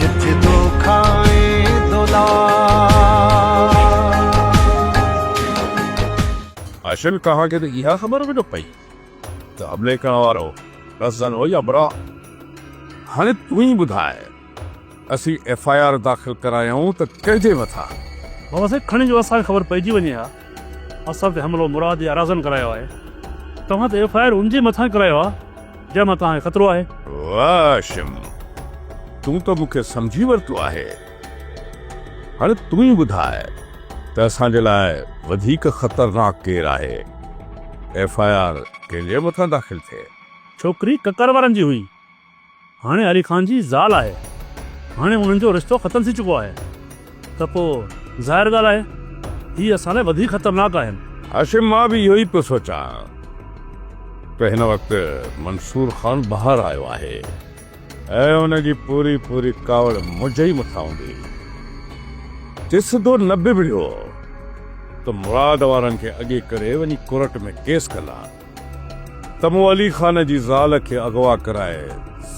جت دوکا ۽ دولار. اشن کان کي ته اها خبر به نه پئي ته حملي ڪرڻ وارو رزن هو يا براء. هاڻي تون ئي ٻڌاء اسين ايف آء آر داخل ڪرايائون ته ڪنهن جي مٿان؟ بابا سائين کڻي جو اسان کي خبر پئجي وڃي ها اسان تي حملو مراد يا رزن ڪرايو آهي توهان ته ايف آء آر ان جي مٿان ڪرايو ها جنهن مان توهان کي خطرو آهي. واه شم! تون ته مون کي سمجهي ورتو آهي. هاڻي تون ئي ٻڌاء ته اسان جي لاء وڌيڪ خطرناڪ ڪير آهي؟ ايف آء آر ڪنهن جي مٿان داخل ٿئي؟ ڇوڪري ڪڪر وارن جي هئي. هاڻي علي خان جي زال آهي. هاڻي انهن جو رشتو ختم ٿي چڪو آهي. ته پوء ظاهر ڳالهه آهي هي اسان لاء وڌيڪ خطرناڪ آهن. هاشم مان به اهو ئي پيو سوچان ته هن وقت منصور خان ٻاهر آيو آهي ۽ ان جي پوري پوري ڪاوڙ منهنجي ئي مٿان هوندي. جي سڌو نه ببڙيو ته مراد وارن کي اڳي ڪري وڃي ڪورٽ ۾ ڪيس ڪندان. ته مون علي خان جي زال کي اغوا ڪرائي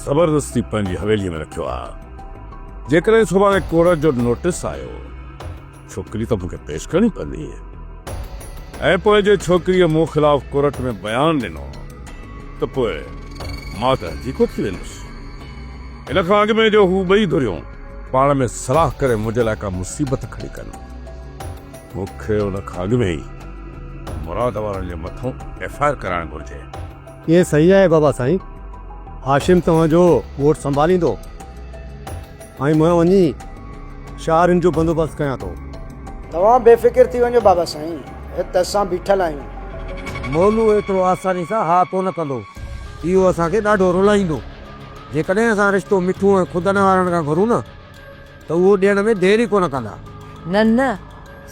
زبردستي پنهنجي حويليء ۾ رکيو آ. جيڪڏهن سڀاڻي ڪورٽ جو نوٽيس آيو، ڇوڪري ته مون کي پيش ڪرڻي پوندي. ۽ پوء جي ڇوڪريء مون خلاف ڪورٽ ۾ بيان ڏنو ته پوء مان ته هنجيڪو ٿي ويندس. ان کان اڳ ۾ جو هو ٻئي ڌريون پاڻ ۾ صلاح ڪري منهنجي لاء ڪا مصيبت کڻي ڪن. مون کي ان کان اڳ ۾ ئي مراد وارن جي مٿون ايف آء آر ڪرائڻ گهرجي. ائين صحيح آهي بابا سائين. هاشم توهان جو ڳوٺ سنڀاليندو ۽ مان وڃي شاهرين جو بندوبست ڪيان ٿو. توهان بي فڪر ٿي وڃو بابا سائين. هت اسان بيٺل آهيون. مولو ايترو آساني سان ها ڪونه ڪندو. اهو اسان کي ڏاڍو رلائيندو. جيڪڏهن اسان رشتو مٺو ۽ خود انوارڻ کان گهرون نه. ته اهو ڏيڻ ۾ دير ئي ڪونه ڪندا. نه نه،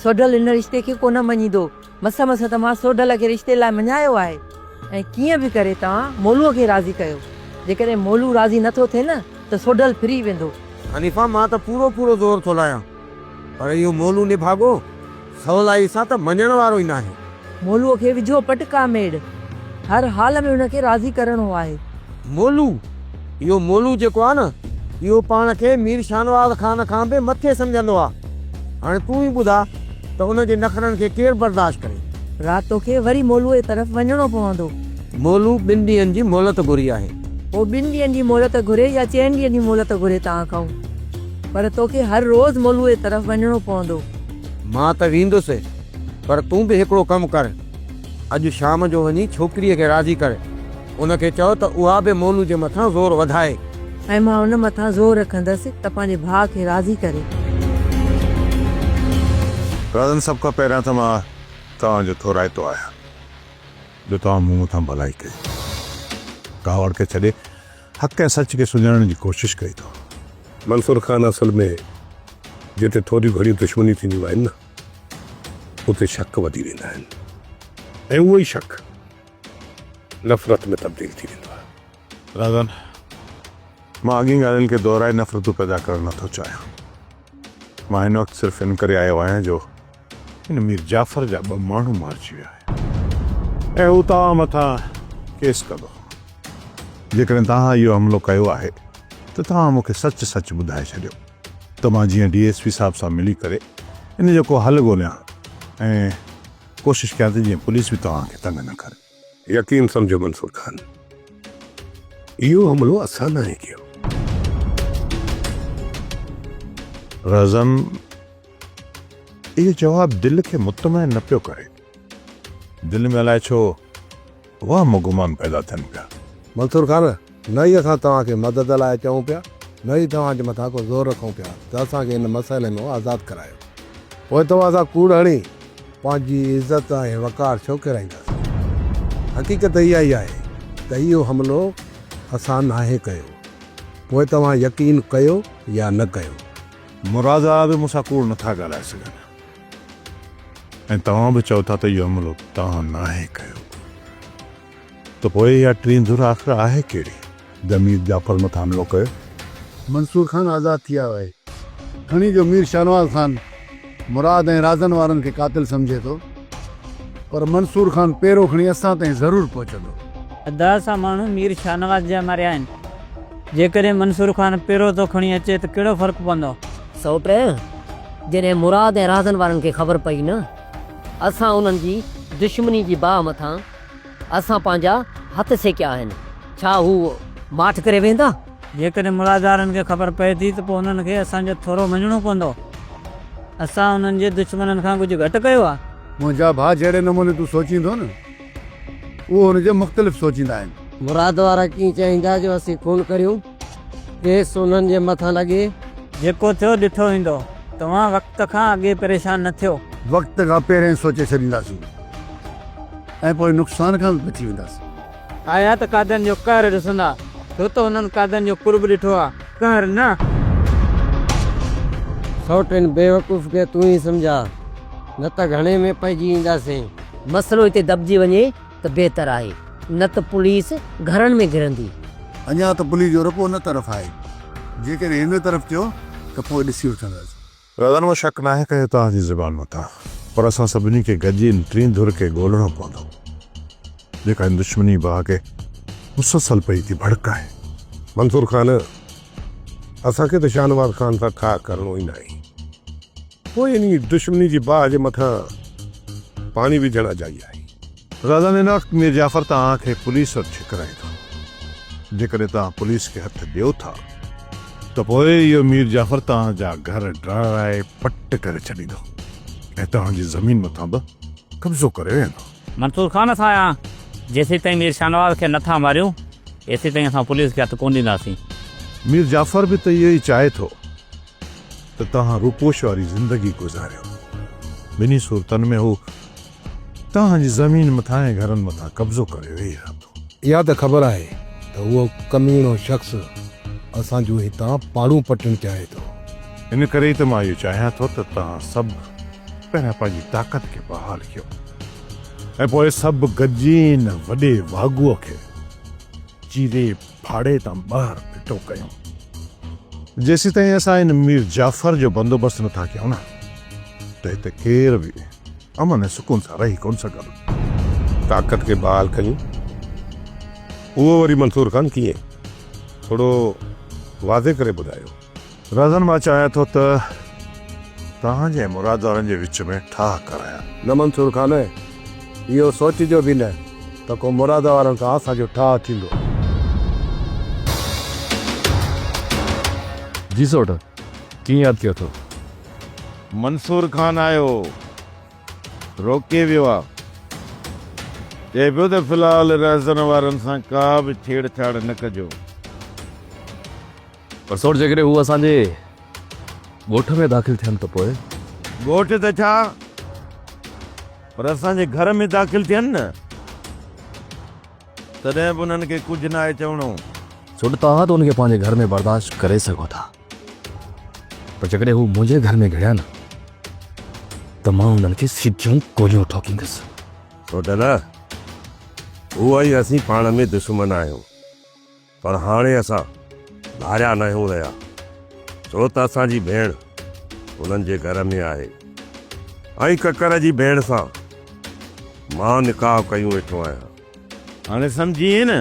سوڍل هن رشتي کي ڪونه مڃيندو. مس مس ته مان سوڍل کي رشتي لاء مڃايو آهي ۽ ڪيئن به ڪري توهان مولوء کي راضي ڪيو. جيڪڏهن مولو راضي نه ٿو ٿئي نه ته سوڍل ڦري ويندو. حنيفه مان ته پورو پورو زور ٿو لايان پر اهو مولو نڀاڳو. سولائي سان ته مڃڻ وارو ئي ناهي. مولوء کي وجهو پٽ ڪا ميڙ. هر حال ۾ هن کي راضي ڪرڻو آهي. مولو، اهو مولو جيڪو آهي نه، اهو پاڻ کي مير شاهنواز خان کان به مٿي سمجهندو آهي. هاڻي تون ئي ٻڌاء ته ان جي نخرن کي ڪير برداشت ڪري؟ رات توکي وري مولوء طرف وڃڻو پوندو. مولو ٻن ڏينهن جي مهلت گهري آهي. هو ٻن ڏينهن جي مهلت گهري يا چئن ڏينهن جي مهلت گهري توهان کانئون پر توکي هر روز مولوء طرف وڃڻو پوندو. مان ته ويندس، پر تون به هڪڙو ڪم ڪر، اڄ شام جو وڃي ڇوڪريء کي راضي ڪر، ان کي چئو ته اها به مولو جي مٿان زور وڌائي. ۽ مان ان مٿان زور رکندس ته پنهنجي ڀاء کي راضي ڪري. رازن، سڀ کان پهريان ته مان توهان جو ٿورائتو آهيان، جو توهان مون مٿان ڀلائي ڪئي. ڪاوڙ کي ڇڏي حق ۽ سچ کي سڃاڻڻ جي ڪوشش ڪئي ٿو. منصور خان اصل ۾ جتي ٿوريون گهڻيون دشمنيون ٿينديون آهن نه اتي شڪ وڌي ويندا آهن ۽ اهو ئي شڪ نفرت ۾ تبديل ٿي ويندو آهي. راضان، مان اڳين ڳالهين کي دهرائي نفرتون پيدا ڪرڻ نه ٿو چاهيان. مان هن وقت صرف ان ڪري آيو آهيان جو هن مير جعفر جا ٻه ماڻهو مارجي ويا آهن ۽ هو توهان مٿان ڪيس ڪندو. جيڪڏهن توهان اهو حملو ڪيو آهي ته توهان مون کي سچ سچ ٻڌائي ڇڏيو ته مان جيئن ڊي ايس پي صاحب سان ملي ڪري ان جو ڪو حل ڳوليان ۽ ڪوشش ڪيان ته جيئن پوليس به توهان کي تنگ نه ڪري. يقين سمجهو منصور خان اهو حملو اسان ناهي ڪيو. رزم اهو جواب دل کي مطمئن نه پيو ڪري. دل ۾ الائي ڇو وهم و گمان پيدا ٿين پيا. منصور خان نه ئي اسان توهان کي مدد لاء چئون پيا، نه ئي توهان جي مٿان ڪو زور رکون پيا ته اسان کي ان مسئلي مان آزاد ڪرايو. پوء توهان سان ڪوڙ هڻي پنهنجي عزت ۽ وقار ڇو ڪيرائينداسين؟ حقيقت اها ئي آهي ته اهو حملو اسان ناهي ڪيو، پوء توهان يقين ڪيو يا نه ڪيو. مراد آء به مون سان ڪوڙ نه ٿا ڳالهائي سگهن ۽ توهان به چئو ٿا ته اهو حملو توهان ناهي ڪيو. ته پوء اها ٽين ڌر آخر آهي ڪهڙي؟ ده مير جعفر مٿان حملو ڪيو. منصور خان آزاد ٿي آيو آهي. کڻي جو مير شاهنواز خان مراد ۽ رازن وارن کي قاتل سمجهي ٿو پر منصور خان پيرو کڻي اسان تائين ضرور پهچندو. ده سا ماڻهو مير شاهنواز جا ماريا آهن. جيڪڏهن منصور خان پيرو ٿو کڻي اچي ته ڪهڙو فرق پوندو؟ سوٽ، جڏهن مراد ۽ رازن وارن کي خبر پئي نه اسان انهن جي دشمني جي باهه مٿان اسان پنهنجا هٿ سيڪيا آهن، ڇا هو ماٺ ڪري ويهندا؟ جيڪڏهن ملازارن کي خبر پئي ٿي ته پوء انهن کي اسان جو ٿورو مڃڻو پوندو. اسان انهن جي دشمنن کان ڪجهه گهٽ ڪيو آهي؟ منهنجا ڀاء جهڙي نموني تون سوچيندو نه، اهو ان جي مختلف سوچيندا آهن. مراد وارا ڪيئن چاهيندا جو اسين خون ڪريون؟ ڪيس انهن جي مٿان لڳي. جيڪو ٿيو ڏٺو ويندو. توهان وقت کان اڳي پريشان نه ٿيو. وقت کان پهرين سوچي ڇڏينداسين ۽ پوء نقصان کان به بچي وينداسين. آيا ته قاضين جو قهر ڏسندا. تو ته انهن قاضين جو قرب ڏٺو آ. قهر نه. سئوٽ ان بيوقوف کي تون ئي سمجهاء نه ته گهڻي ۾ پئجي اينداسين. مسئلو هتي دٻجي وڃي. ته بهتر آهي، نه ته پوليس گهرن ۾ گهرندي. اڃا ته پوليس جو رخ ان طرف آهي، جيڪڏهن هن طرف ٿيو ته پوء ڏسي وٺنداسين. دادن مون شڪ ناهي ڪيو توهان جي زبان مٿان، پر اسان سڀني کي گڏجي ان ٽين ڌر کي ڳولڻو پوندو، جيڪا هن دشمني باهه کي مسلسل پئي ٿي ڀڙڪائي. منصور خان، اسان کي ته شاهنواز خان سان ٺاهه ڪرڻو ئي ناهي. پوء انهيء دشمني جي باهه جي مٿان پاڻي وجهڻ اجائي آهي. راضا نيناڪ مير جعفر توهان کي پوليس وٽ ڇڪرائي ٿو. جيڪڏهن توهان پوليس کي هٿ ڏيو ٿا ته پوء اهو مير جعفر توهان جا گهر ڊاهرائي پٽ ڪري ڇڏيندو ۽ توهان جي زمين مٿان به قبضو ڪري ويهندو. منصور خان اسان يا جيسيتائين مير شاهنواز کي نه ٿا ماريون ايسيتائين اسان پوليس کي هٿ ڪونه ڏينداسين. مير جعفر به ته اهو ئي چاهي ٿو. ته توهان روپوش واري زندگي گذاريو. ٻنهي صورتن ۾ هو توهان جي زمين مٿان ۽ گهرن مٿان قبضو ڪري ويهي رهندو. اها ته خبر آهي ته اهو ڪميڻو شخص اسان جون هتان پاڙون پٽڻ چاهي ٿو. ان ڪري ئي ته مان اهو چاهيان ٿو ته توهان سڀ پهريان پنهنجي طاقت کي بحال ڪيو ۽ پوء سڀ گڏجي ان وڏي واڳوء کي چيري ڦاڙي تان ٻاهر ڦٽو ڪيون. جيسيتائين اسان ان مير جعفر جو بندوبست نه ٿا ڪيون نه ته هتي ڪير به امن ۽ سڪون سان رهي ڪونه سگهندو. طاقت کي بحال ڪيون. اهو وري منصور خان ڪيئن؟ ٿورو واضح ڪري ٻڌايو. رازن مان چاهيان ٿو ته توهان جي ۽ مراد وارن جي وچ ۾ ٺاهه ڪرايان. نه منصور خان، اهو سوچجو به نه ته ڪو مراد وارن سان اسان جو ٺاهه ٿيندو. جي سوٽ، ڪيئن ياد ڪيو اٿو؟ منصور خان آيو هو، روڪي ويو آ. چئي پيو ته في الحال رازن وارن سان ڪا به ڇيڙ ڇاڙ نه ڪجو. پر سوچ جيڪڏهن هو اسان جي ڳوٺ ۾ داخل ٿين ته پوء؟ ڳوٺ ته ڇا پر اسان جي گهر ۾ داخل ٿين نه تڏهن به انهن کي ڪجهه ناهي چوڻو. سوچ توهان ته ان کي پنهنجي گهر ۾ برداشت ڪري سگهو ٿا پر جيڪڏهن هو منهنجي گهر ۾ گهڙيا نه ته مان انهن کي سڌيون گوليون ٺوڪيندس. سوچ نه هو ۽ اسين پاڻ ۾ دشمن آهيون. پر هاڻي اسان ڀاريا ناهيون رهيا ڇو ته اسان جي ڀيڻ هنن جي گهر ۾ آهي ۽ ڪڪر جي ڀيڻ سان مان نڪاح ڪيون ويٺو آهيان. هاڻي سمجهيئي نه؟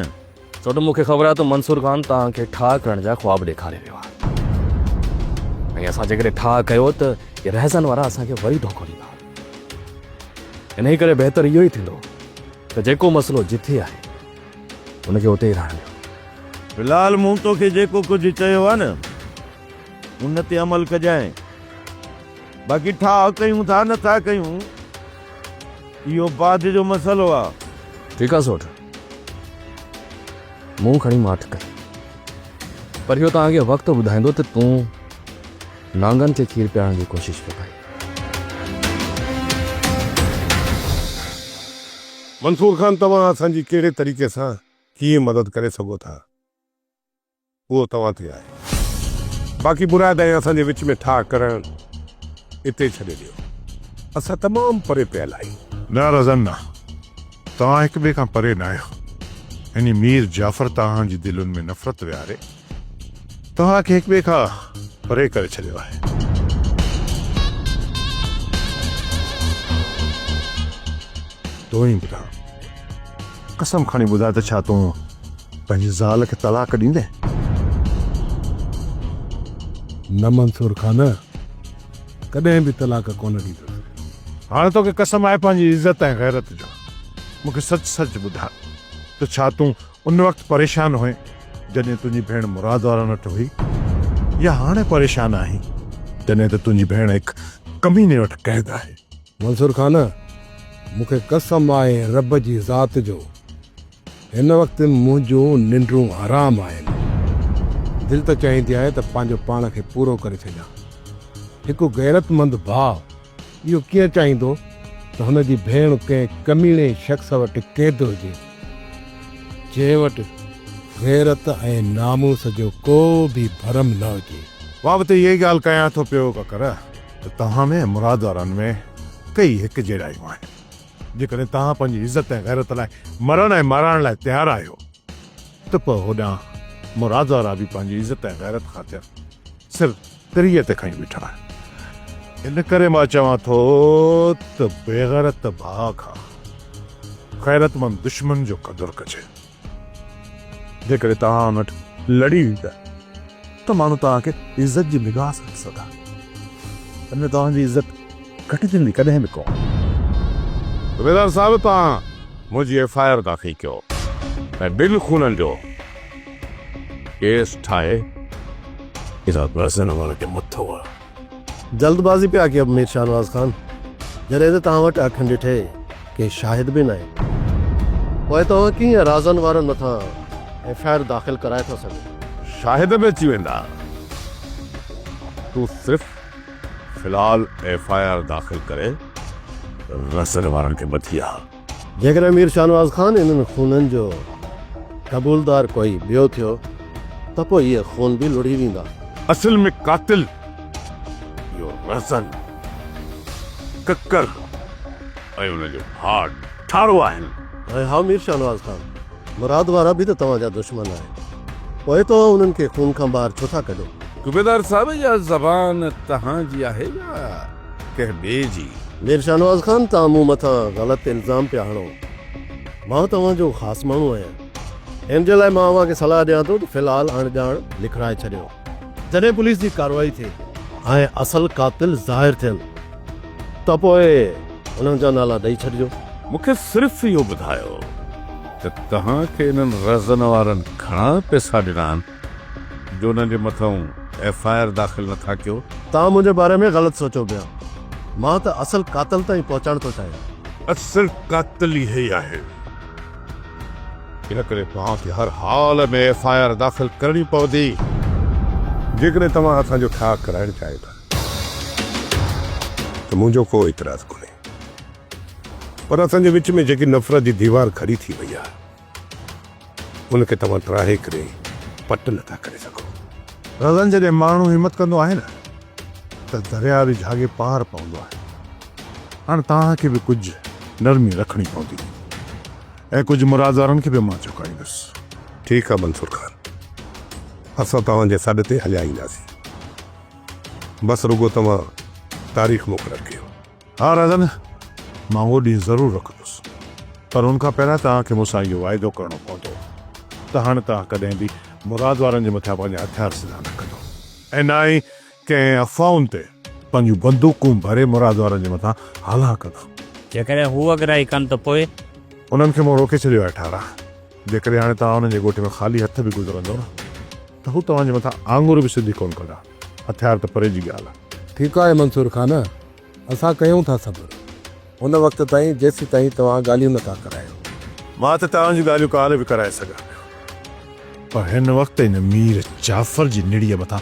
ڇو ته مون کي خبر آهي ته منصور خان توهان کي ٺاهه ڪرڻ جا خواب ڏيکاري ويو آهي ۽ اسان جيڪڏهن ٺاهه ڪيو ته اهي رهزن وارا اسان کي وري ڌوڪو ڏيندا. انهيء ڪري بهتر اهو ئي ٿيندو ته جيڪو مسئلو جٿي آهي، هن کي اتي ئي رهڻ ڏيو. في الحال مون توکي جيڪو ڪجهه چيو آهي نه، ان تي عمل ڪجانء. باقي ٺاهه ڪيون ٿا نه ٿا ڪيون، اهو بعد جو مسئلو آهي. ٺيڪ آهي سوٽ. مون کڻي ماٺ ڪئي. پر اهو توهان کي وقت ٻڌائيندو ته تون نانگن کي کير پيارڻ جي ڪوشش ڪيو آهي. منصور خان توهان اسان جي ڪهڙي طريقي سان ڪيئن مدد ڪري سگهو ٿا اهو توهان تي آهي باقي مراد ۽ اسان جي وچ ۾ ٺاهه ڪرڻ اتي ڇڏي ڏيو اسان تمام پري پيل آهيون. نه رزن نه توهان هڪ ٻئي کان پري نه آهيو ۽ مير جعفر توهان جي دلين ۾ نفرت ويهاري توهان کي هڪٻئي کان پري ڪري ڇڏيو آهي. تون ئي ٻڌاء، قسم کڻي ٻڌاء ته ڇا تون پنهنجي زال کي طلاق ڏيندين؟ نه منصور خان، ڪڏهن به طلاق ڪونه ڏيندس. هاڻ توکي قسم آهي پنهنجي عزت ۽ غيرت جو، مون کي سچ سچ ٻڌاء ته ڇا تون ان وقت پريشان هئين جڏهن تنهنجي ڀيڻ مراد وارن وٽ هئي يا هاڻي پريشان آهين جڏهن ته تنهنجي ڀيڻ هڪ ڪميني وٽ قيد آهي. منصور خان، مون کي قسم آهي رب جي ذات جو هن وقت منهنجون ننڊون حرام آهن. دل ته چاهيندي آهي ته پنهنجو پاڻ کي پورو ڪري ڇڏيان. هڪ غيرتمند ڀاء. اهو ڪيئن چاهيندو ته هن جي ڀيڻ ڪنهن ڪميڻي شخص وٽ قيد هجي، جنهن وٽ غيرت ۽ ناموس جو ڪو به ڀرم نه هجي. مان به ته اها ئي ڳالهه ڪيان ٿو پيو ڪڪر ته توهان ۾ ۽ مراد وارن ۾ ڪيئي هڪ جهڙائيون آهن. جيڪڏهن توهان پنهنجي عزت ۽ غيرت لاء مرڻ ۽ مارائڻ لاء تيار آهيو ته پوء هوڏانهن مراد وارا به پنهنجي عزت ۽ غيرت خاطر سر تريء تي کنئي بيٺا آهن. ان ڪري مان چوان ٿو ته بيغيرت ڀاء کان غيرتمند دشمن جو قدر ڪجي. جيڪڏهن توهان ان وٽ لڙي ايندا ته ماڻهو توهان کي عزت جي نگاهه سان ڏسندا. ان ۾ توهان جي عزت. گهٽجندي ڪڏهن به ڪونه. صوبيدار صاحب توهان منهنجي ايف آء آر داخل ڪيو ۽ ٻن خونن جو ڪيس ٺاهي ادا بحسن عمل کي مٿو هڻو. جلد بازي پيا ڪيو مير شاهنواز خان جڏهن ته توهان وٽ اکين ڏٺي ڪي شاهد به ناهن پوء توهان ڪيئن رازن وارن مٿان ايف آء آر داخل ڪرائي ٿا سگهو. شاهد به اچي ويندا تون صرف. في الحال ايف آء آر داخل ڪري رسل وارن کي مٿي آ. جيڪڏهن مير شاهنواز خان انهن خونن جو قبولدار ڪوئي ٻيو ٿيو ته پوء اهي خون به لڙهي ويندا. اصل ۾ قاتل اهو رسل، ڪڪر ۽ ان جو ڀاء ٺارو آهن. ۽ ها مير شاهنواز خان! مراد وارا به ته توهان جا دشمن آهن پوء توهان انهن کي خون کان ٻاهر ڇو ٿا ڪڍو؟ صوبيدار صاحب اها زبان تهان جي آهي يا ڪنهن ٻئي جي؟ مير شاهنواز خان توهان مون مٿان غلط الزام پيا هڻو مان توهان جو خاص ماڻهو آهيان ان جي لاء مان اوهان کي صلاح ڏيان ٿو ته في الحال اڻ ڄاڻ لکرائي ڇڏيو. جڏهن پوليس جي ڪارروائي ٿي ۽ اصل قاتل ظاهر ٿين ته پوء انهن جا نالا ڏئي ڇڏجو. مون کي صرف اهو ٻڌايو ته توهان کي انهن رزن وارن گهڻا پئسا ڏنا آهن جو انهن جي مٿئون ايف آء آر داخل نه ٿا ڪيو. توهان منهنجي باري ۾ غلط سوچيو پيا. مان ته اصل قاتل تائين پهچڻ ٿو چاهيان. اصل قاتل اهوئي آهي. ان ڪري توهان کي هر حال ۾ ايف آء آر داخل ڪرڻي پوندي جيڪڏهن توهان اسان جو ٺاهه ڪرائڻ چاهيو ٿا ته منهنجو ڪو اعتراض ڪونهي پر اسان جي وچ ۾ جيڪي نفرت جي ديوار کڙي ٿي وئي آهي ان کي توهان ٽراهي ڪري پٽ نٿا ڪري سگهو. رزن جڏهن ماڻهو همت ڪندو آهي نه ته درياء به جهاڳي پار پوندو آهي. هاڻ توهان کي به ڪجهه نرمي رکڻي پوندي ۽ ڪجهه مرادارن کي به مان چڪائيندس. ٺيڪ آ منصور خان، اسان توهان جي سڏ تي هليا اينداسين. بس رڳو توهان تاريخ مقرر ڪيو. ها راجن، مان اهو ڏينهن ضرور رکندس، پر ان کان پهريان توهان کي مون سان اهو واعدو ڪرڻو پوندو ته هاڻ توهان ڪڏهن به مراد وارن جي مٿان پنهنجا هٿيار سڌا نه ڪندو ۽ نه ئي ڪنهن افواهن تي پنهنجون بندوقون ڀري مراد وارن جي مٿان هلان ڪندا. جيڪڏهن هو اڳرائي ڪن ته پوء؟ انهن کي مون روڪي ڇڏيو آهي ٺارا. جيڪڏهن هاڻي توهان انهن جي ڳوٺ ۾ خالي هٿ به گذرندؤ نه ته هو توهان جي مٿان آڱر به سڌي ڪونه ڪندا. هٿيار ته پري جي ڳالهه. ٺيڪ آهي منصور خان. اسان ڪيون ٿا صبر ان وقت تائين جيسيتائين توهان ڳالهيون نه ٿا ڪرايو. مان ته توهان جون ڳالهيون ڪالهه به ڪرائي سگهان پيو پر هن وقت هن مير جعفر جي نڙيء مٿان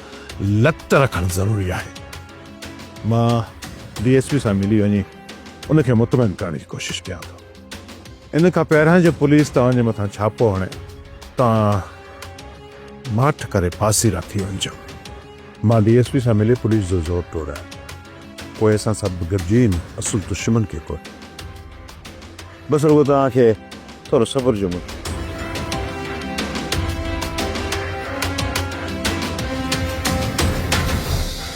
لت رکڻ ضروري آهي. مان ڊي ايس پي سان ملي وڃي ان کي مطمئن ڪرڻ جي ڪوشش ڪيان ٿو. ان کان پهريان جو پوليس توهان جي مٿان ڇاپو هڻي توهان ماٺ ڪري پاسيرا ٿي وڃجو. مان ڊي ايس پي سان ملي پوليس جو زور ٽوڙيان. پوء اسان سڀ گڏجي ان اصل دشمن کي ڪوٺ بس رڳو توهان کي ٿورو صبر جو مٺ.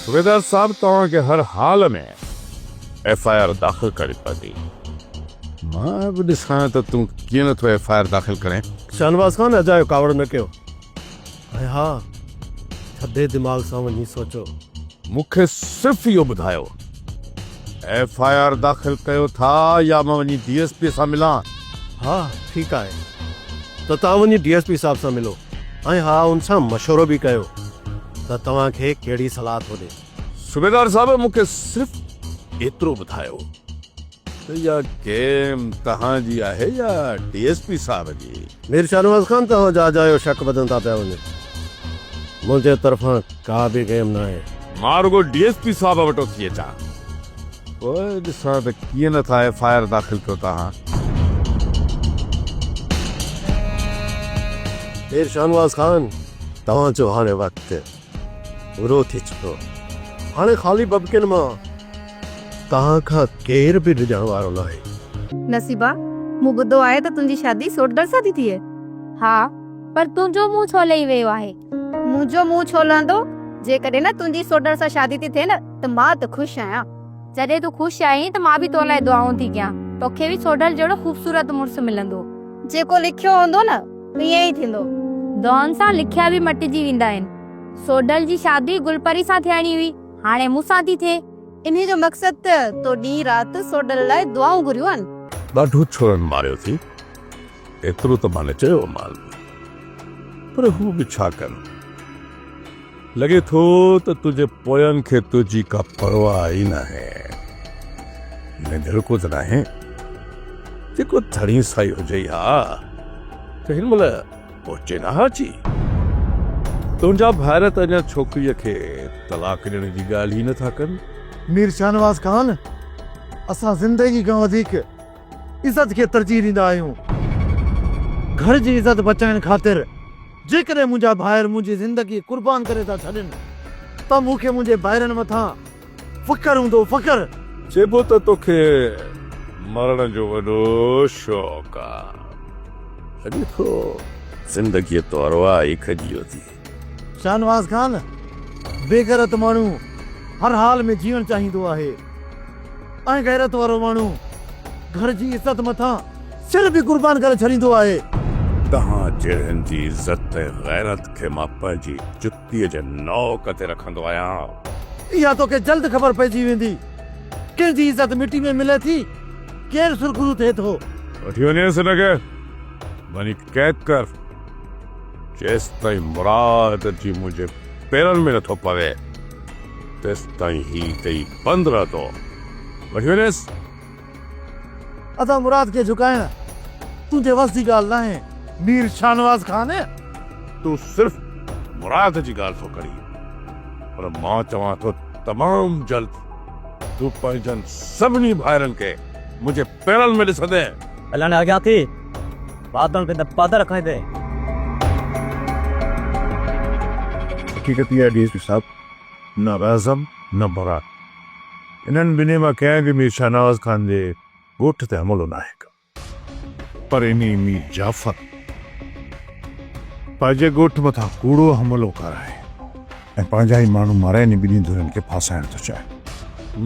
صوبيدار صاحب توهان کي هر حال ۾ ايف آء آر داخل ڪرڻي پوندي. مان به ڏسان ته تون ڪيئن نٿو ايف آء آر داخل ڪرين. شاهنواز خان اجايو ڪاوڙ نه ڪيو. هي ها، ٿڌي دماغ سان وڃي سوچو. مون کي صرف اهو ٻڌايو ايف آء آر داخل ڪيو ٿا يا مان وڃي ڊي ايس پي سان ملان؟ ها ٺيڪ آهي ته توهان وڃي ڊي ايس پي صاحب سان ملو ۽ ها ان سان مشورو به ڪيو ته توهان کي ڪهڙي صلاح ٿو ڏي. صوبيدار صاحب مون کي صرف ايترو ٻڌايو. اها گيم توهان جي آهي يا ڊي ايس پي صاحب جي؟ مير شاهنواز خان توهان جا جا اهو شڪ وڌندا پيا وڃن منهنجي طرفان ڪا به گيم ناهي. مان رڳو ڊي ايس پي صاحب وٽ اٿي اچان پوء ڏسان ته ڪيئن نه ٿا ايف آء آر داخل ڪيو توهان. مير شاهنواز خان توهان جو هاڻي وقت. ڀورو ٿي چڪو. هاڻي خالي ببڪين مان توهان کان ڪير به ڊڄڻ وارو ناهي. نصيبا، مون ٻڌو آهي ته تنهنجي شادي سوٽدڙ سان ٿي ٿئي. ها، پر تنهنجو منهن ڇو لهي ويو آهي؟ منهنجو منهن ڇو لهندو؟ جيڪڏهن نه تنهنجي سوٽدڙ سان شادي ٿي ٿئي نه ته مان ته خوش آهيان. جڏهن تون خوش آهين ته مان به تو لاء دعائون ٿي ڪيان. توکي به سوٽدڙ جهڙو خوبصورت مڙس ملندو. جيڪو لکيو هوندو نه. ائين ئي ٿيندو. دون سان لکيا به مٽجي ويندا آهن. سوڍل جي شادي گلپري سان ٿيڻي هئي، هاڻي مون سان ٿي ٿئي. انهيء جو مقصد ته تو ڏينهن رات سوڍل لاء دعائون گهريون آهن. ڏاڍو ڇورن ماريو ٿي، ايترو ته ماني چيومانس، پر هو به ڇا ڪن. لڳي ٿو ته تنهنجي پوين کي تنهنجي ڪا پرواهه ئي ناهي. ائين دڙڪو ته ناهي؟ جيڪو ڌڻي سائي هجئي ها ته هن مهل پهچي نه ها اچي. تنهنجا ڀائر ته اڃا ڇوڪريء کي طلاق ڏيڻ جي ڳالهه ئي نه ٿا ڪن. مير شاهنواز خان، اسان زندگي کان وڌيڪ عزت کي ترجيح ڏيندا آهيون. گهر جي عزت بچائڻ خاطر. جيڪڏهن منهنجا ڀائر منهنجي زندگي قربان ڪري ٿا ڇڏين ته مون کي منهنجي ڀائرن مٿان فخر هوندو، فخر! چئبو ته توکي مرڻ جو وڏو شوق آ. اڄ تو زندگيء تو ارواح ئي کڄي اٿي. شاهنواز خان، بيغيرت ماڻهو هر حال ۾ جيئڻ چاهيندو آهي ۽ غيرت وارو ماڻهو گهر جي عزت مٿان سر به قربان ڪري ڇڏيندو آهي. توهان جهڙن جي عزت ۽ غيرت کي مان پنهنجي جتيء جي نوڪ تي رکندو آهيان. اها توکي جلد خبر پئجي ويندي. ڪنهن جي عزت مٽي ۾ ملي ٿي، ڪير سرخرو ٿئي ٿو. وٺي وڃيس هن کي، وڃي قيد ڪر، جيستائين مراد جي منهنجي پيرن ۾ نٿو پوي، تيستائين هي اتي ئي بند رهندو. وٺي وڃيس. ادا مراد کي جهڪائڻ تنهنجي وس جي ڳالهه ناهي مير شاهنواز خان. تون صرف مراد جي ڳالهه ٿو ڪرين پر مان چوان ٿو تمام جلد تون پنهنجن سڀني ڀائرن کي منهنجي پيرن ۾ ڏسندين. هلڻ اڳيان ٿي بادن کي نه پڌر کائيندين. حقيقت اها آهي ڊي ايس پي صاحب نه اعظم نه مراد. انهن ٻنهي مان ڪنهن به مير شاهنواز خان جي ڳوٺ تي حملو ناهي ڪيو. پر انهي مير جعفر پنهنجي ڳوٺ مٿان ڪوڙو حملو ڪرائي ۽ پنهنجا ئي ماڻهو مارائي انهي ٻنهي ڌرين کي ڦاسائڻ ٿو چاهي.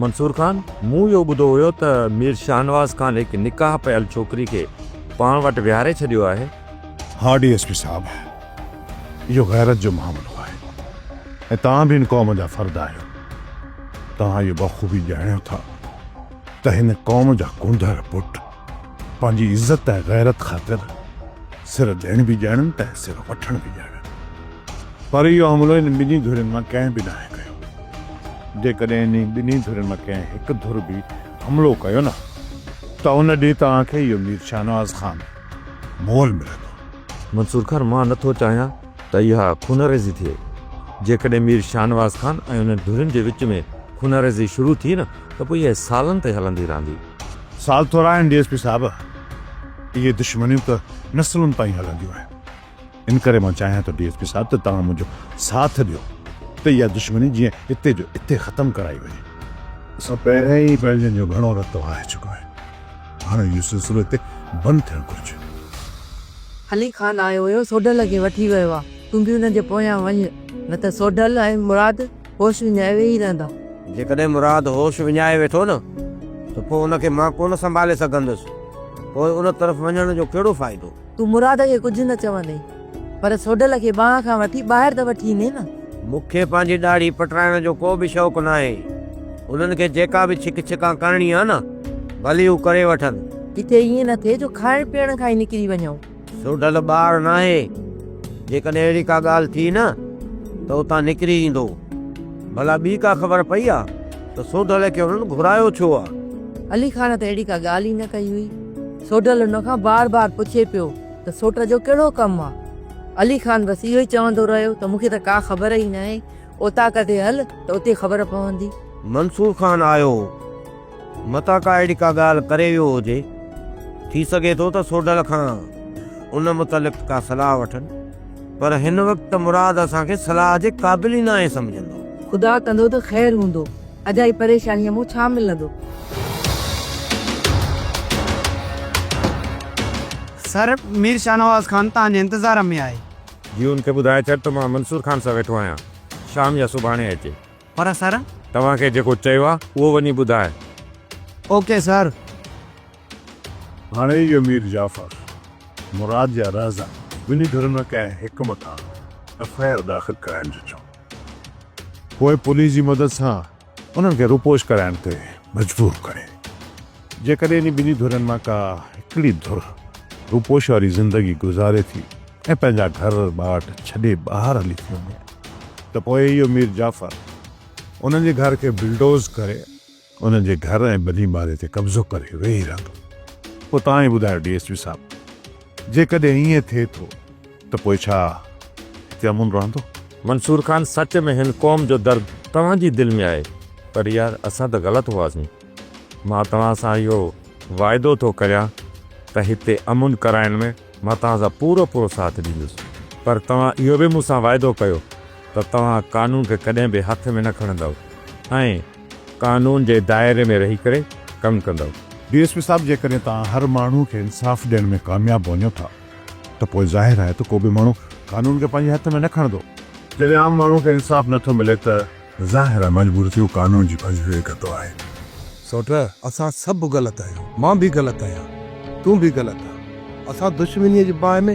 منصور خان، مون اهو ٻڌو هيو ته مير شاهنواز خان هڪ نڪاح پيل ڇوڪري کي پاڻ وٽ ويهاري ڇڏيو آهي. ها ڊي ايس پي صاحب! اهو غيرت جو معاملو آهي ۽ توهان به هن قوم جا فرد آهيو. توهان اهو بخوبي ڄاڻيو ٿا ته هن قوم جا ڪونڌر پٽ پنهنجي عزت ۽ غيرت خاطر سر ڏيڻ به ڄاڻن ته ۽ سر وٺڻ به ڄاڻن. پر اهو حملو هن ٻنهي ڌرين مان ڪنهن به ناهي ڪيو. جيڪڏهن انهي ٻنهي ڌرين مان ڪنهن هڪ ڌر به حملو ڪيو نه ته ان ڏينهن توهان کي اهو مير شاهنواز خان مول ملندو. منصور خان مان نه ٿو چاهيان ته اها خونريزي ٿئي. جيڪڏهن مير شاهنواز خان ۽ انهن ڌرين جي وچ ۾ خونريزي شروع ٿي نه ته پوء اها سالن تائين هلندي رهندي. سال ٿورا آهن ڊي ايس پي صاحب. اهي دشمنيون ته نسلن تائين هلنديون آهن. ان ڪري مان چاهيان ٿو ڊي ايس پي صاحب ته توهان منهنجو ساٿ ڏيو ته اها دشمني جيئن اتي جو اتي ختم ڪرائي وڃي. اسان پهريان ئي پنهنجن جو گهڻو رت وهائي چڪا آهن. هاڻ اهو سلسلو هتي بند ٿيڻ گهرجي. علي خان آيو هيو سوڍل کي وٺي ويو آ تون به ان جي پويان وڃ نه ته سوڍل ۽ مراد هوش وڃائي ويهي رهندا. جيڪڏهن مراد هوش وڃائي ويٺو نه ته پوء ان کي مان ڪونه سنڀالي سگهندس پوء ان طرف وڃڻ جو ڪهڙو فائدو. تون مراد کي ڪجهه نه چوندين، پر سوڍل کي ٻانهن کان وٺي ٻاهر ته وٺي ايندين نه؟ مون کي پنهنجي ڏاڙهي پٽرائڻ جو ڪو به شوق ناهي. انهن کي جيڪا به ڇڪ ڇڪان ڪرڻي آهي نه، ڀلي هو ڪري وٺن. ڪٿي ائين نه ٿئي جو کائڻ پيئڻ کان ئي نڪري وڃون. سوڍل ٻار ناهي. جيڪڏهن اهڙي ڪا ڳالهه ٿي نه ته اتان نڪري ايندو. ڀلا ٻي ڪا خبر پئي آ ته سوڍل کي انهن گهرايو ڇو آ؟ علي خان ته اهڙي ڪا ڳالهه ئي نه ڪئي هئي. سوڍل هن کان بار بار پڇي پيو ته سوٽ جو ڪهڙو ڪم آ؟ علي خان بس اهو ئي چوندو رهيو ته مون کي ته ڪا خبر ئي ناهي، اوطاق تي هل ته اتي خبر پوندي. منصور خان آيو هو، متان ڪا اهڙي ڪا ڳالهه ڪري ويو هجي، ٿي سگهي ٿو ته سوڍل کان ان متعلق ڪا صلاح وٺن، پر هن وقت ته مراد اسان کي صلاح جي قابل ئي ناهي سمجهندو. خدا ڪندو ته خير هوندو. اجائي پريشانيء مون ڇا ملندو؟ سر، مير شاهنواز خان توهان جي انتظار ۾ آهي. جي هن کي ٻڌائي ڇڏ ته مان منصور خان سان ويٺو آهيان. شام يا سڀاڻي اچي. پر سر! توهان کي جيڪو چيو آهي، اهو وڃي ٻڌاء. Okay sir. هاڻي اهو مير جعفر، مراد يا رهزن، ٻنهي ڌرين ۾ ڪنهن حڪم تان ايف آء آر داخل ڪرائڻ جو چئو. پوء پوليس جي مدد سان انهن کي روپوش ڪرائڻ تي مجبور ڪري. جيڪڏهن انهي ٻنهي ڌرين مان ڪا هڪڙي ڌر روپوش واري زندگي گذاري ٿي ۽ پنهنجا گهر ٻاٽ ڇڏي ٻاهر هلي ٿي وڃي ته پوء اهو مير جعفر انهن جي گهر کي بلڊوز ڪري انهن جي گهر ۽ ٻني ماري تي قبضو ڪري ويهي رهندو. پوء توهان ئي ٻڌايو ڊي ايس پي صاحب جيڪڏهن ائين ٿئي ٿو ته پوء ڇا هتي امن رهندو؟ منصور خان سچ ۾ هن قوم جو درد توهان جي دل ۾ آهي پر يار اسان ته غلط هئاسين مان توهان سان اهو واعدو ٿو ڪريان ته هتي امن ڪرائڻ ۾ مان توهان سان پورو پورو ساٿ ڏيندس پر توهان اهو به مون سان واعدو ڪيو ته توهان قانون کي ڪڏهن به هٿ ۾ نه کڻندؤ ۽ قانون جي دائري ۾ رهي ڪري ڪم ڪندؤ. ڊي ايس پي صاحب جيڪڏهن توهان هر ماڻهو کي انصاف ڏيڻ ۾ ڪامياب وڃو ٿا ته پوء ظاهر آهي ته ڪو به ماڻهو قانون کي پنهنجي هٿ ۾ نه کڻندو. جڏهن عام ماڻهو کي انصاف نٿو ملي ته ظاهر آهي مجبور ٿيو قانون جي پنج ويهه ڪتو آهي. سوٽ اسان سڀ غلط آهيون مان به غلط آهيان تون به غلط آهين اسان دشمنيء جي باهه ۾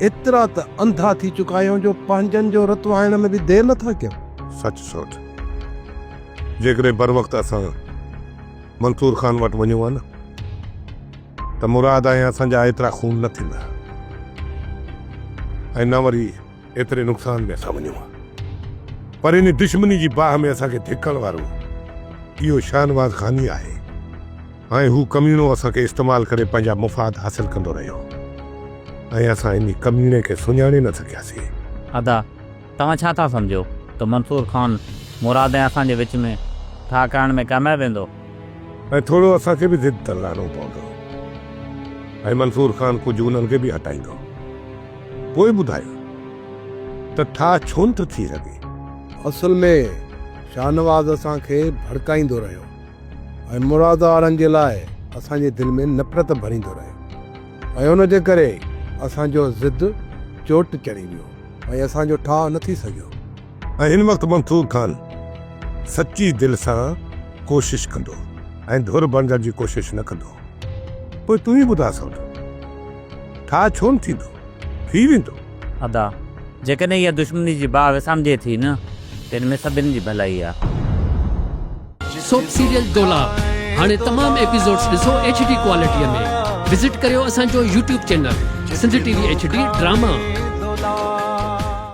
ايترا ته انڌا ٿي چڪا آهيون جو پنهنجن جو رت وهائڻ ۾ به دير نه ٿا ڪيون. سچ سوٽ جيڪڏهن بروقت اسان منصور خان وٽ وڃون ها نه ته مراد ۽ اسان جا ايترا خون نه ٿيندا ۽ نه وري ايتري نقصان ۾ اسان وڃون ها پر ان دشمني جي باهه ۾ اسان کي ڌڪڻ وارو اهو شاهنواز خان ئي آهي ۽ هو ڪميڻو اسان کي استعمال ڪري پنهنجا مفاد حاصل ڪندو رهيو ۽ اسان ان ڪميڻي کي سڃاڻي نه سگهياسين. ادا توهان ڇا ٿا سمجهو ته منصور خان مراد ۽ اسان جي وچ ۾ ٺاهه ڪرڻ ۾ ڪامياب ويندو؟ ۽ ٿورو اسان کي به ضد تان لهڻو پوندو ۽ منصور خان ڪجهه انهن کي به هٽائيندو. پوء ٻڌايو ته ٺاهه ڇونه ٿو ٿي سگهي؟ اصل ۾ شاهنواز اسان کي ڀڙڪائيندو رهيو ۽ مراد وارن جي لاء اسان جي دل ۾ نفرت ڀريندو رهيو ۽ ان جي ڪري اسان جو ضد چوٽ چڙهي ويو ۽ اسان جو ٺاهه نه ٿي سگهيو. ۽ هن وقت منصور خان سچي دل سان ڪوشش ڪندو ۽ ڌر بڻجڻ جي ڪوشش نه ڪندو پوء تون ئي ٻڌاء سوڍو ٺاهه ڇو نه ٿيندو ٿي ويندو. ادا جيڪڏهن اها دشمني جي باهه وسامجي ٿي نه ته ان ۾ سڀني جي ڀلائي آ. سوپ سيريل دولاب هاڻي تمام ايپيسوڊس ڏسو ايڇ ڊي ڪوالٽيء ۾ وزٽ ڪريو اسان جو YouTube channel Sindh T V H D drama.